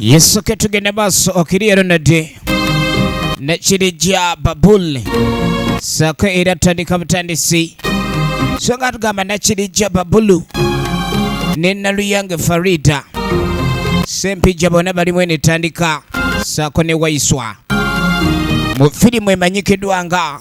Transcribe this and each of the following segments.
yesu ke tugende maaso okiri ero nadde nekirijja babuli saako era tutandika butandisi so nga tugamba nakirijja babulu ne naluyange farida sempijja bona balimu enetandika saako ne waiswa mu firimu emanyikiddwa nga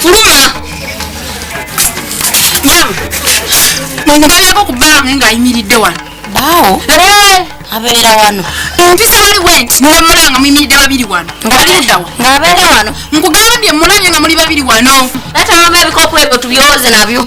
Fuluma! Maama, mwenegererako ku bbaamu ng'ayimiridde wano. Baawo? Eeh! Abeera wano. Empisa wali bwenti ne wemulaba nga muyimiridde babiri wano. Ng'atudda wa? Ng'abeera wano. Nkugambye mmulabye nga muli babiri wano. Taata wamma ebikopo ebyo tubyoze nabyo.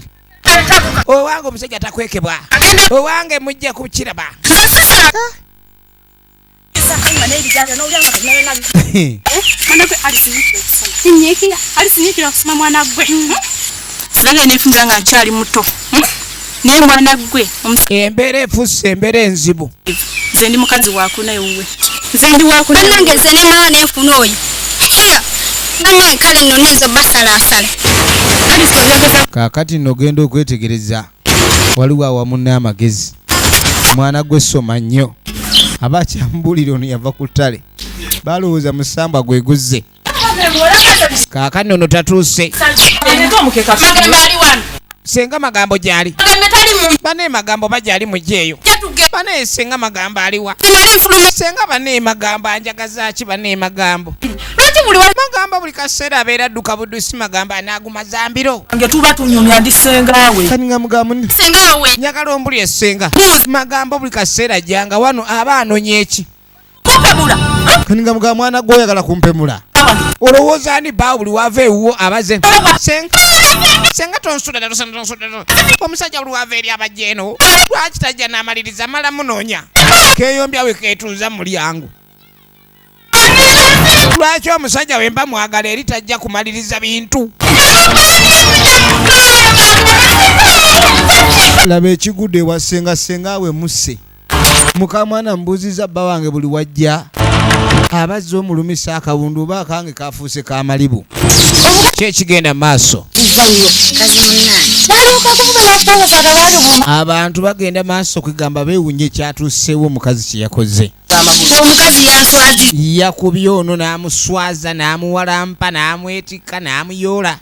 owange omusajja takwekebwa owange mujja kukiraba nange nefunza nga nkyali muto hmm? naye mwana gwe embeera efusse embeera enzibu nze ndi mukazi wakunaye wuwe nze ndi wakuna banange nze nemala nenfuna oyo siya banange kale nno nezo basalaasala kakati nogenda okwetegereza waliwo awamunna amagezi mwana gwe soma nnyo aba akyamubulira ono yava ku ttale balowooza musambwa gweguzze kaakati ono tatuuse senga magambo gyali bane magambo bagyali mujeeyo bane senga magambo aliwa senga bane magambo anjagazaki bane magambo magamba buli kaseera abeera dduka budusi magamba anaaguma zambiro nge tuba tunyumya ndi sengaawe kaninga mugambo sengaawe njagala ombuli esenga magambo buli kaseera janga wano aba anonye eki nga muga mwana gwe oyagala kumpemula olowooza ani baa buli wava ewuwo abaze senga tonsudaomusajja buli wava eri abajja eno lwaki tajja n'amaliriza mala munoonya keyombya we ketuuza mu mulyango lwaki omusajja wemba mwagala eri tajja kumaliriza bintu laba ekigudde ewasenga senga we musse mukamwana mbuuziza bba wange buli wajja abazza omulumisa akawundu oba akange kafuuse ka malibu kyekigenda maaso abantu bagenda maaso kwegamba bewunya ekyatuusewo omukazi kyeyakoze yakubye ono n'amuswaza n'amuwalampa n'amwetikka n'amuyoola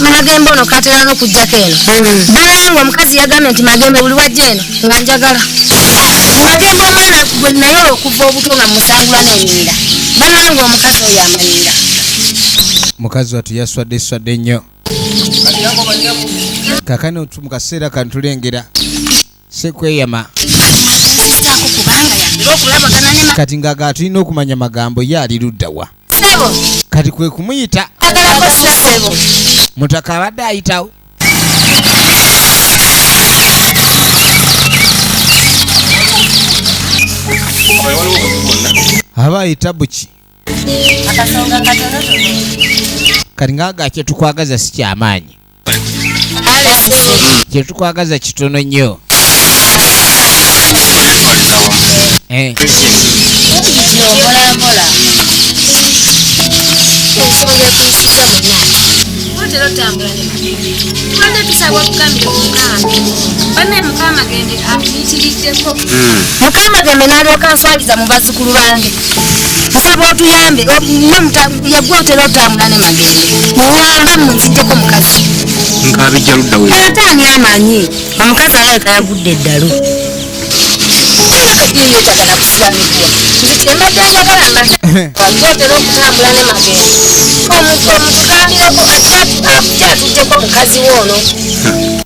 magembe ono katera nokujjako eno bulaye nga omukazi yagambye nti magembe buli wajja eno nga njagala magembe omwana gwe naye okuva obuto nga musangula nenyirira bulaye nga omukazi oyo amanyira mukazi watu yaswadde swadde nnyo kakano mu kaseera kantulengera sekweyama kati ngaga atulina okumanya magambo ye ali luddawa kati kwe kumuyita mutaka abadde ayitawo aba ayita buki kati ngaga kyetukwagaza sikyamaanyi kyetukwagaza kitono nnyo eh. Thank you. amuyitiriddeko hmm. mukama ddembe n'alyoka nswabiza mu bazzukulu bange nsaba otuyambe yegwe otera otambula ne magere muyambe munziddeko mukazi nkabijja ludda we ate ani amanyi omukazi alabika yagudde eddalu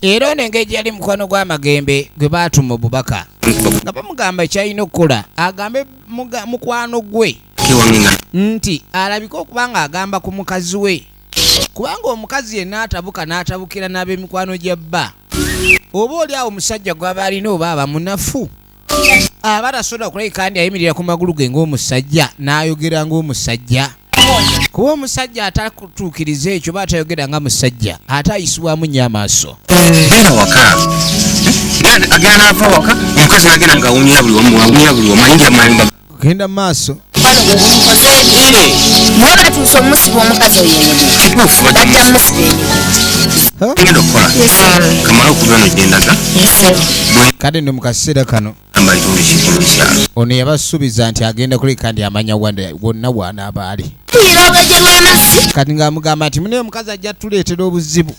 era ono engeri yali mukwano gwama Magembe gwe baatuma obubaka nga bamugamba kyalina okukola agambe mukwano gwe nti alabike okuba nga agamba ku mukazi we kubanga omukazi yenna atabuka n'atabukira n'ab'emikwano gya bba oba oli awo omusajja gwaba alina oba aba munafu aba tasobola kulabika ndi ayimirira ku magulu ge ng'omusajja n'ayogera ng'omusajja kuba omusajja atakutuukiriza ekyo ba atayogera nga musajja ate ayisibwamu nnyo amaaso agenda nava waka omukazi nagenda ngawunya buli wamu wawunya buli wamu ayingira mayumba genda mu maaso kale no mu kaseera kano ono yabasuubiza nti agenda kuleka ndi amanya wonna waanaaba ali kati ng'amugamba nti mune omukazi ajja tuleetera obuzibu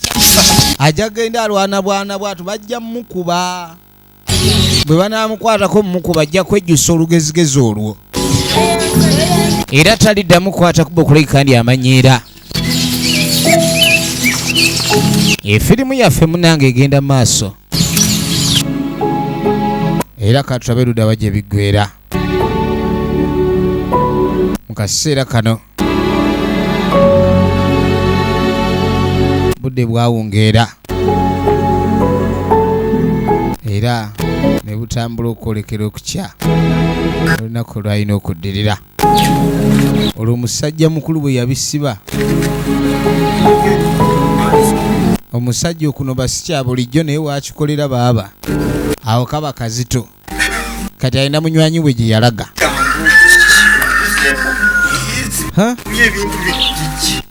ajja genda alwana bwana bwatu bajja mukuba bwe banaamukwatako mumukuba ajja kwejjusa olugezigezi olwo era taliddamu kukwata kuba okulabika ndi amanyiira efirimu yaffe munange egenda maaso era katulabe ludaba gye biggwera mu kaseera kano budde bwawungeera era ne butambula okwolekera okukya olunaku lwalina okuddirira olwo musajja mukulu bwe yabisiba omusajja okuno basikya bulijjo naye wakikolera baaba awo kaba kazito kati alina munywanyi we gye yalaga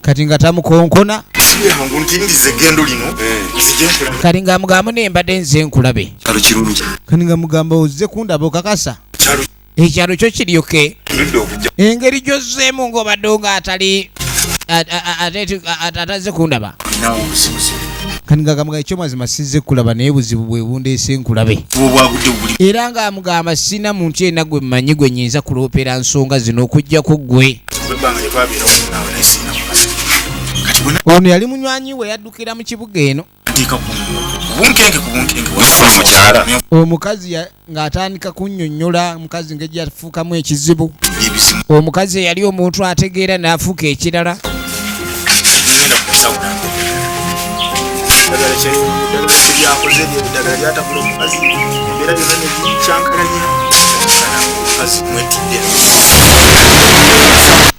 kati nga tamukonkona kati nga mugambo naye mbadde nze nkulabe kati nga mugamba ozze kundaba okakasa ekyalo kyo kiryoke engeri gyozzeemu ng'obadde nga atali atazze kundaba nawe obusibuzi kati ngagamba ekyomazima sizze kulaba naye buzibu bwe bundeese nkulabe era ng'amugamba sirina muntu yena gwe mmanyi gwe nyinza kuloopera nsonga zino okuggyako ggwe ono yali munywanyi we yaddukira mu kibuga eno omukazi ng'atandika kunnyonnyola omukazi ngeri yafuukamu ekizibu omukazi eyali omuntu ategeera n'afuuka ekirala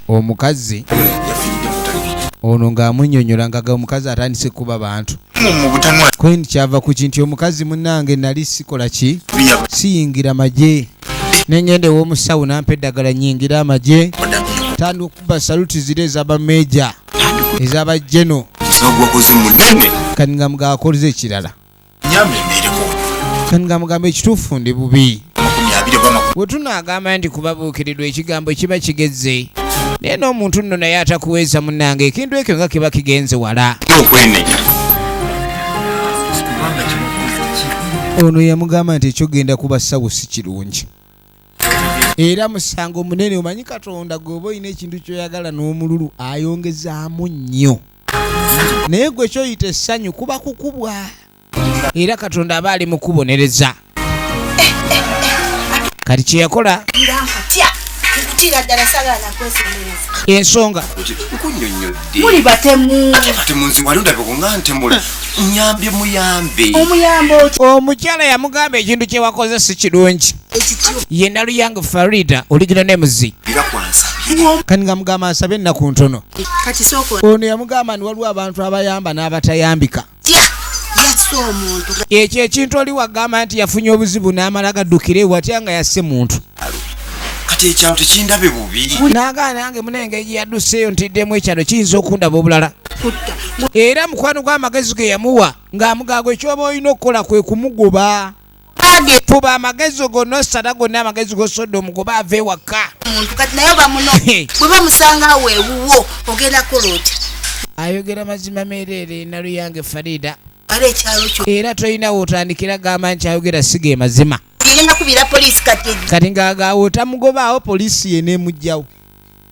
omukazi ono ng'amunyonyola ngaga omukazi atandise kuba bantu kwen kyava ku kinti omukazi munange nali sikola ki siyingira magye nengenda ewomusawo nampa eddagala nyingira amagye tandi okuba saluti ziri ezabameja ezabajeno kani nga mugaakoliza ekirala kani nga mugamba ekituufu ndi bubi bwe tunaagamba nti kubabuukirirwa ekigambo kiba kigezze naye n'omuntu nno naye atakuweeza munnange ekintu ekyo nga kiba kigenze wala ono yamugamba nti ekyogenda kuba sawo si kirungi era musango munene omanyi katonda gweoba olina ekintu kyoyagala n'omululu ayongezaamu nnyo naye gwe kyoyita essanyu kuba kukubwa era katonda aba ali mukubonereza kati kyeyakola ensonga muli batemu omukyala yamugamba ekintu kyewakoze si kirungi ye naluyang farida oligina nemuzi kati nga mugamba nsabe ennaku ntono ono yamugamba ni waliwo abantu abayamba n'abatayambika ekyo ekintu oli wagamba nti yafunye obuzibu n'amala gaddukira ewatya nga yasse muntu kati ekyalo tekindabe bubi naga nange munenge gyeyaduseeyo ntiddemu ekyalo kiyinza okundaba obulala era mukwano gw'amagezi ge yamuwa ng'amugaago ekyoba olina okukola kwe kumugoba Bange fuba amagezi go no sada go na amagezi go sodo mu kuba ave waka. Muntu kati nayo bamuno. Bwe bamusanga we wuwo ogenda koloti. Ayogera mazima merere na luyange Farida. Are kyalo kyo. Era toyina wotandikira gamba nti ayogera sige mazima. Yina kubira police kati. Kati ngaga wotamugoba awo police yene mujjawo.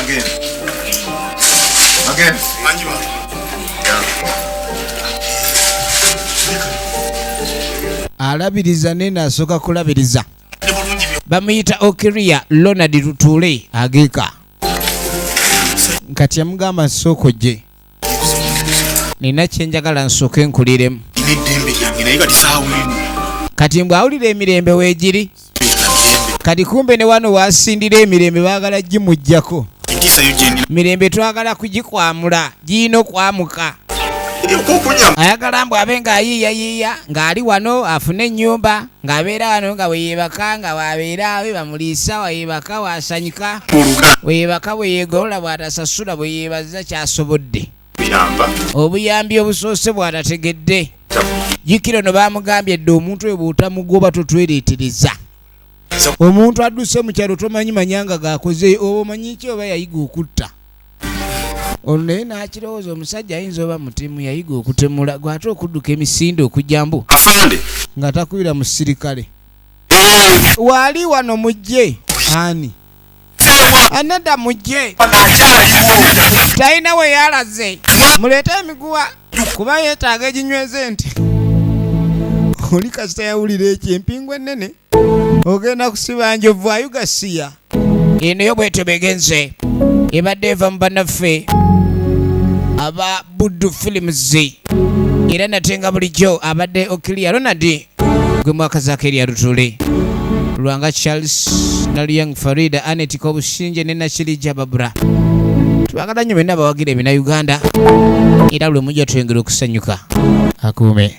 Again. Again. Manjima. alabiriza naye nasooka kulabiriza bamuyita okiria lonald lutuule ageeka kati yamugamba nsooka ojje nina kyenjagala nsooke nkuliremu kati mbwe awulira emirembe wegiri kati kumbe ne wano wasindira emirembe bagala gimujjako mirembe twagala kugikwamula giyina okwamuka ayagala mbw abe ng'ayiiyayiiya ng'ali wano afune ennyumba Ng'abeera wano nga bwe yeebaka, nga bw'abeera we bamuliisa, bw'ayeebaka, bw'asanyuka, bwe yeebaka, bwe yeegolola, bw'atasasula, bwe yeebaza ky'asobodde, obuyambi obusoose bw'atategedde. Jjukira ono baamugambye dda omuntu oyo bw'otamugoba totwereetereza. Omuntu adduse mu kyalo tomanyi manyanga gaakoze oba omanyi ki oba yayiga okutta. ono naye n'akirowooza omusajja ayinza oba mutemu yayiga okutemula gwe ate okudduka emisinde okujambu afande nga takubira musirikale eh. waali wano mujje ani aneda mujje talina we yalaze muleete emiguwa kuba yeetaaga eginyweza ente oli kasita yawulira ekyo empingu ennene ogenda kusiba njovu ayugasiya eno yo bwetyo begenze ebadde eva mu banaffe aba buddu films era nate nga bulijjo abadde okilia ronald gwe mwakazako erya lutule lwanga charles naluyang farida anet kobushinje ne nakirija babura twagala nnyo byonna abawagira ebina uganda era lwe mujja twengera okusanyuka akuume